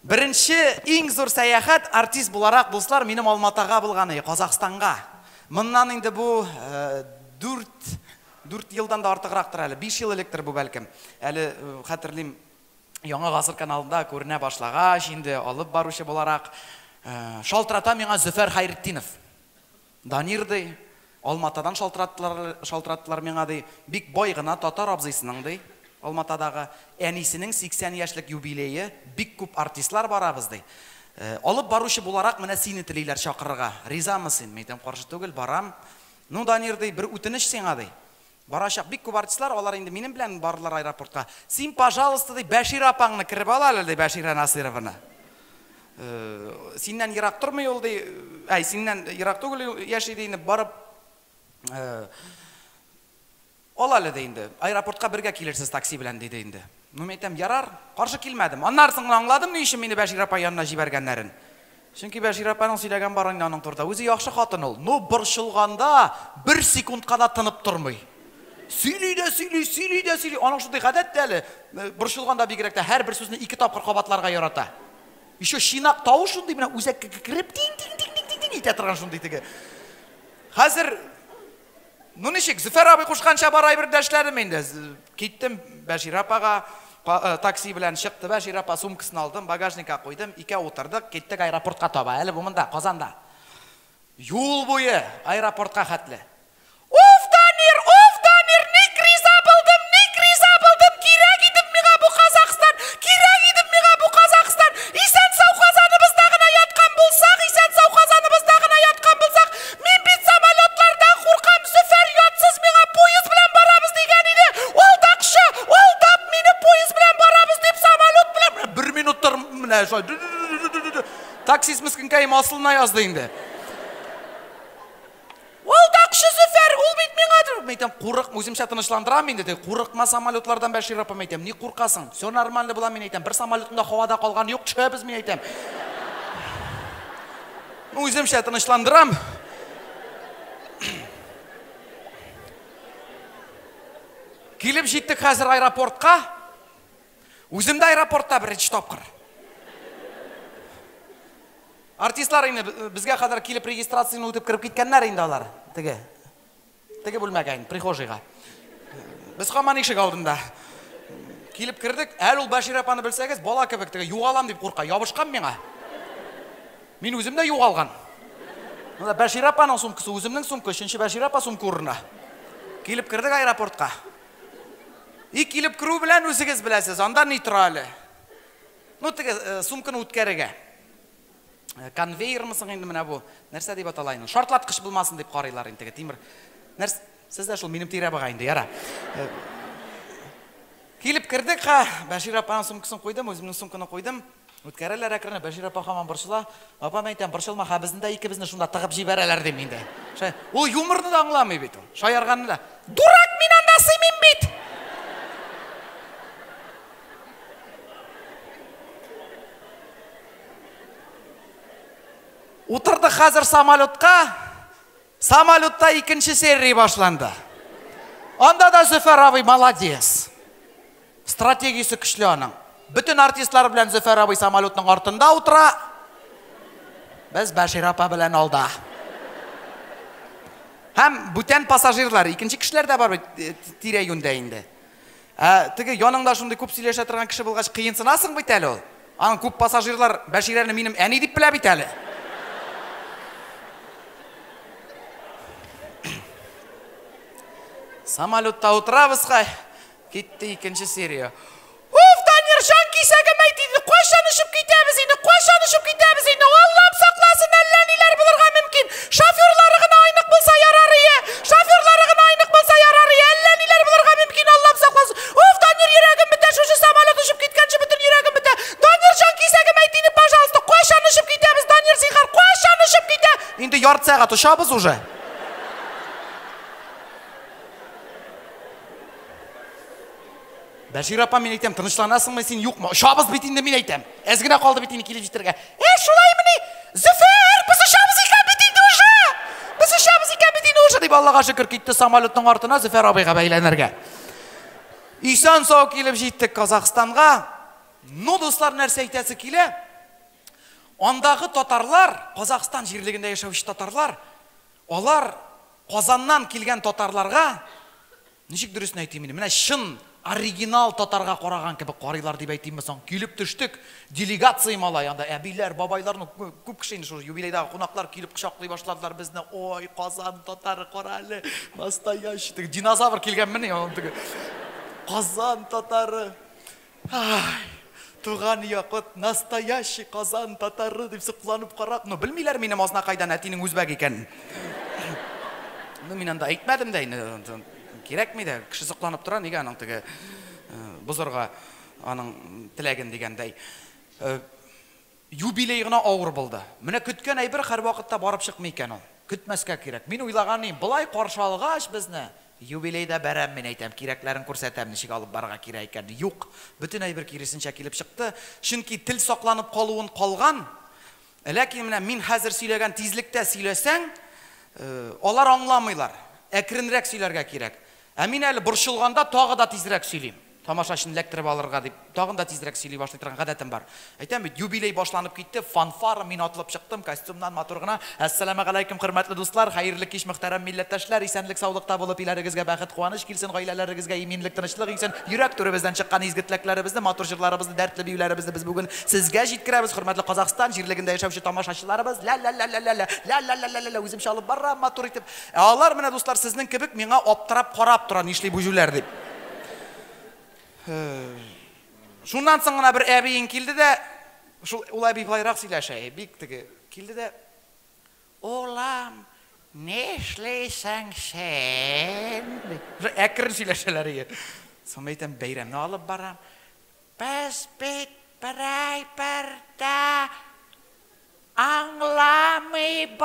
Беренче иң зур сәяхәт артист буларак, дуслар, минем Алматага булганы, Казахстанга. Моннан инде бу дүрт, дүрт елдан да артыграктыр әле, биш ел электер бу, бәлкем. Әле хәтерлим, Яңа гасыр каналында күренә башлагач, инде алып баручы буларак, шалтырата миңа Зөфәр Хәйретдинов. Данир, ди, Алматадан шалтыраттылар, шалтыраттылар миңа, ди, бик бай гына татар абзыйсының, ди, Алматадагы, әнисенең 80 яшьлек юбилее, бик күп артистлар барабыз, ди. Алып баручы буларак менә сине телиләр чакырырга. Ризамы син? Мин әйтәм, каршы түгел, барам. Ну, Данир, ди, бер үтенеч сиңа, ди. Барачак бик күп артистлар, алар инде минем белән бардылар аэропортка. Син, пожалуйста, ди, Бәшир апаңны кереп ал әле, ди, Бәширә Насыйрованы. Синнән ерак тормый ул, ди, әй, синнән ерак түгел яши, ди, инде барып ал әле, ди, инде. Аэропортка бергә килерсез такси белән, диде инде. Ну, мин әйтәм, ярар, каршы килмәдем. Аннары соң гына аңладым, ни өчен мине Бәшир апа янына җибәргәннәрен. Чөнки Бәшир апаның сөйләгән барыннан аның турыда. Үзе яхшы хатын ул. Ну, борчылганда бер секундка да тынып тормый. Сөйли дә сөйли, сөйли дә сөйли. Аның шундый гадәт тә әле, борчылганда бигрәк тә һәрбер сүзне ике тапкыр кабатларга ярата. Еще чинак тавыш шундый менә үзәккә кереп тин-тин-тин-тин-тин итә торган шундый теге. Хәзер Ну ничек, Зөфәр абый кушканча барай бер дәшләрем инде. Киттем Бәшир апага, э, такси белән чыкты Бәшир апа, сумкасын алдым, багажникка куйдым, икәү утырдык, киттек аэропортка таба. Әле бу монда, Казанда. Юл буе аэропортка хәтле. Уф, Дамир, уф, Дамир, ник риза булдым, ник риза булдым, кирәк идем миңа бу Казахстан, кирәк идем миңа бу Казахстан. Исән-сау Казаныбызда гына яткан булсак, исән-сау Казаныбызда гына яткан булсак, Мин бит самолетлардан куркам, Зөфәр ятсыз миңа поезд белән барабыз дигән иде, алдакчы, алдап мине поезд белән барабыз дип самолет белән, менә бер минутта менә шулай ду-ду-ду-ду-ду-ду-ду, таксист мескенкаем асылына язды инде. Алдакчы Зөфәр, ул бит миңа ди, мин әйтәм, курыкма, үземчә тынычландырам инде, ди, курыкма самолетлардан Бәшир апам әйтәм, ник куркасың, все нормально була мин әйтәм, бер самолетым да һавада калган юк, төшәбез мин әйтәм. Үземчә тынычландырам. Килеп җиттек хәзер аэропортка. Үзем дә аэропортта беренче тапкыр. Артистлар инде безгә кадәр килеп регистрацияне үтеп кереп киткәннәр инде алар. Теге Теге бүлмәгә инде, прихожийга. Без хаман ишек алдында. Килеп кердек, әле ул Бәшир апаны белсәгез, бала кебек теге югалам дип курка, ябышкан миңа. Мин үзем дә югалган. Монда Бәшир апаның сумкасы, үземнең сумка, өченче Бәшир апа сумка урынына. Килеп кердек аэропортка. И килеп керү белән үзегез беләсез, анда ни тора әле? Ну, теге э, сумканы үткәрергә. Э, конвейермы соң инде менә бу нәрсә дип атала инде шартлаткыч булмасын дип карыйлар инде теге тимер нәрсә сез дә шул минем тирәбыга инде яра э, килеп кердек ха бәшир апаның сумкасын куйдым үземнең сумканы куйдым үткәрәләр әкренләп бәшир апа һаман борчыла апа мен әйтәм борчылма ха безне дә икебезне шунда тыгып җибәрәләр дим инде ул юморны да аңламый бит ул шаярганны да дурак мин анда сыймыйм бит Утырдык хәзер самолетка. Самолетта икенче серия башланды. Анда да Зөфәр абый молодец. Стратегиясе көчле аның. Бөтен артистлар белән Зөфәр абый самолетның артында утыра. Без Бәшир апа белән алда. Һәм бүтән пассажирлар, икенче кешеләр дә бар бит э, тирә-юньдә инде. Ә теге яныңда шундый күп сөйләшә торган кеше булгач, кыенсынасың бит әле ул. Аның күп пассажирлар Бәширәне минем әни дип белә бит әле. Самолетта утырабыз хай. Китте икенче серия. Уф, Даниржан, кисәгем әйт инде, кайчан очып китәбез инде, кайчан очып китәбез инде, Аллам сакласын, әллә ниләр булырга мөмкин. Шоферлары гына айнык булса ярарые! Шоферлары гына айнык булса ярарые! Әллә ниләр булырга мөмкин, Аллам сакласын! Уф, Данир, йөрәгем бетә, шушы самолет очып киткәнче бөтен йөрәгем бетә! Данир җан, кисәгем әйт иде, пожалуйста, кайчан очып китәбез, Данир, зинһар, кайчан очып китә? Инде ярты сәгать очабыз уже. Бәшир апа, мин әйтәм, тынычланасыңмы син, юкмы? Очабыз бит инде, мин әйтәм. Әз генә калды бит инде килеп җитәргә. Ә, шулаймыни? Зөфәр, без очабыз икән бит инде уже! Без очабыз икән бит инде уже, дип Аллага шөкер китте самолетның артына Зөфәр абыйга бәйләнергә. Исан сау килеп җиттек Казахстанга. Ну, дуслар, нәрсә әйтәсе килә? Андагы татарлар, Казахстан җирлегендә яшәүче татарлар, алар Казаннан килгән татарларга Ничек дөресен әйтим инде, менә чын оригинал татарга караган кебек карыйлар дип әйтимме соң, килеп төштек, делегация малай, анда әбиләр, бабайлар, ну, күп кеше инде шул юбилейдагы кунаклар килеп кочаклый башладылар безне, ой, Казан татары, кара әле, настоящий, теге динозавр килгәнмени, аның теге, Казан татары. Ай, туган якыт, настоящий Казан татары, дип сокланып карап, ну, белмиләр минем Азнакайдан әтинең үзбәк икәнен. Ну, мин анда әйтмәдем дә инде, кирәкми дә, кеше сокланып тора, нигә аның теге э, бозырга аның теләген дигәндәй. Э, Юбилей гына авыр булды. Менә көткән әйбер һәрвакытта барып чыкмый икән ул. Көтмәскә кирәк. Мин уйлаган идем, болай каршы алгач безне, юбилейда бәрәм мин әйтәм, кирәкләрен күрсәтәм, ничек алып барырга кирәк икәнен. Юк, бөтен әйбер киресенчә килеп чыкты. Чөнки тел сакланып калуын калган. Ләкин менә мин хәзер сөйләгән тизлектә сөйләсәң, алар аңламыйлар. Әкренрәк сөйләргә кирәк. Ә мин әле борчылганда тагы да тизрәк сөйлим. Тамашачыны эләктереп алырга дип, тагын да тизрәк сөйли башлый торган гадәтем бар. Әйтәм бит, юбилей башланып китте, фанфара, мин атылып чыктым, костюмнан матур гына, Әссәламәгаләйкүм, хөрмәтле дуслар, хәерле кич, мөхтәрәм милләттәшләр, исәнлек-саулыкта булып, өйләрегезгә бәхет-куаныч килсен, гаиләләрегезгә иминлек, тынычлык иңсен, йөрәк түребездән чыккан изге теләкләребезне, матур җырларыбызны, дәртле биюләребезне без бүген сезгә җиткерәбез, хөрмәтле Казахстан җирлегендә яшәүче тамашачыларыбыз, лә-лә-лә-лә-лә-лә, лә-лә-лә-лә-лә-лә, үземчә алып барам, матур итеп. Ә алар менә, дуслар, сезнең кебек, миңа аптырап карап тора, нишли бу җүләр дип. Шуннан соң гына бер әбиең килде дә, шул ул әби болайрак сөйләшә, бик теге, килде дә, Улым, нишлисең син? ди. Әкрен сөйләшәләр ие. Соң мин әйтәм, бәйрәмне алып барам. Без бит берәйбер дә аңламыйбыз.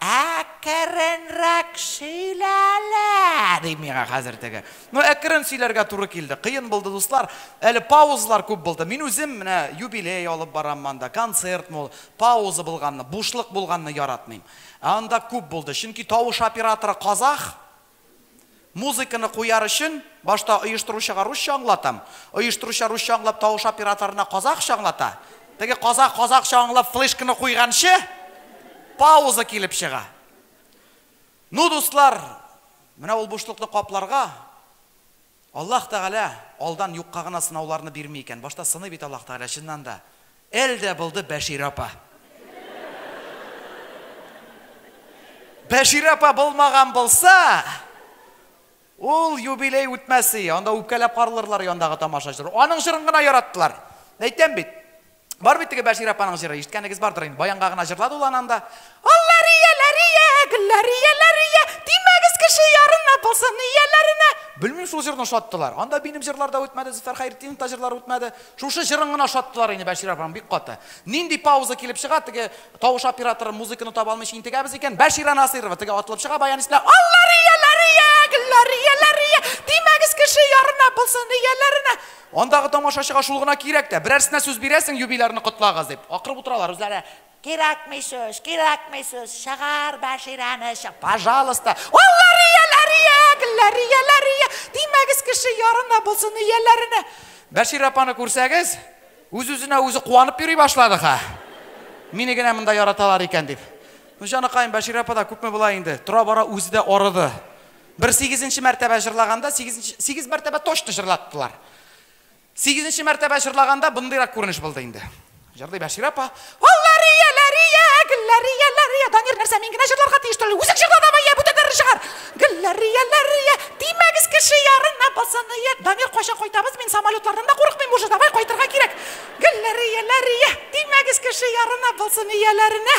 Әкеренрәк сөйлә әле! ди миңа хәзер теге. Ну, әкерен сөйләргә туры килде. Кыен булды, дуслар. Әле паузалар күп булды. Мин үзем менә юбилей алып барам монда, концерт мул. Пауза булганны, бушлык булганны яратмыйм. Ә анда күп булды. Чөнки тавыш операторы казах, Музыканы куяр өчен, башта оештыручыга русча аңлатам. Оештыручы русча аңлап, тавыш операторына казахча аңлата. Теге казах казахча аңлап флешканы куйганчы, пауза килеп чыга. Ну, дуслар, менә ул бушлыкны капларга, Аллаһ Тәгалә алдан юкка гына сынауларны бирми икән, башта сыный бит Аллаһ Тәгалә, чыннан да. Әл дә булды Бәширә апа. Бәширә апа булмаган булса, ул юбилей үтмәс ие, анда үпкәләп каралырлар яндагы тамашачылар. Аның җырын гына яраттылар. Әйтәм бит. Бар бит теге Бәшир апаның җыры, ишеткәнегез бардыр инде. Баянга гына җырлады ул ананда. Аллар ияләрия, гөлләр ияләрия, тимәгез кеше ярына булсын ияләренә. Белмим шул җырны шаттылар. Анда минем җырлар да үтмәде, Зөфәр Хәйретдинов та җырлар үтмәде. Шушы җырын гына шаттылар инде Бәшир апаның бик каты. Нинди пауза килеп чыга, теге тавыш операторы музыканы таба алмыйча интегәбез икән. Бәширә Насыйрова теге атылып чыга баян исенә. Аллар ияләрия, гөлләр ияләрия, тимәгез кеше ярына булсын ияләренә. Андагы тамашачыга шул гына кирәк тә, берәрсенә сүз бирәсең, юбилярны котлагыз, дип. Акырып утыралар үзләре. Кирәкми сүз, кирәкми сүз, чыгар Бәширәне, чы, пожалуйста. Аллар ияләре, иягелләр, ияләр, ия, тимәгез кеше ярына булсын, ияләренә. Бәширә апаны күрсәгез, үз-үзенә үзе куанып йөри башлады, ха. Мине генә монда яраталар икән, дип. Ну, җаныкаем, Бәширә апа да күпме болай инде, тора-бара үзе дә арыды. Бер сигезенче мәртәбә җырлаганда, сигезенче, сигез мәртәбә точно җырлаттылар. Сигезенче мәртәбә җырлаганда бындыйрак күренеш булды инде. Җырлый Бәширә апа. Аллария, ләрия, гөлләрия, ләрия. Данир, нәрсә, мин генә җырларга тиеш түгел. Үзең җырла давай, йә, бүтәннәрне чыгар. Гөлләрия, ләрия, тимәгез кеше ярына бассын, йә. Данир, кайчан кайтабыз? Мин самолетлардан да курыкмыйм уже, давай кайтырга кирәк. Гөлләрия, ләрия, тимәгез кеше ярына бассын, ияләренә.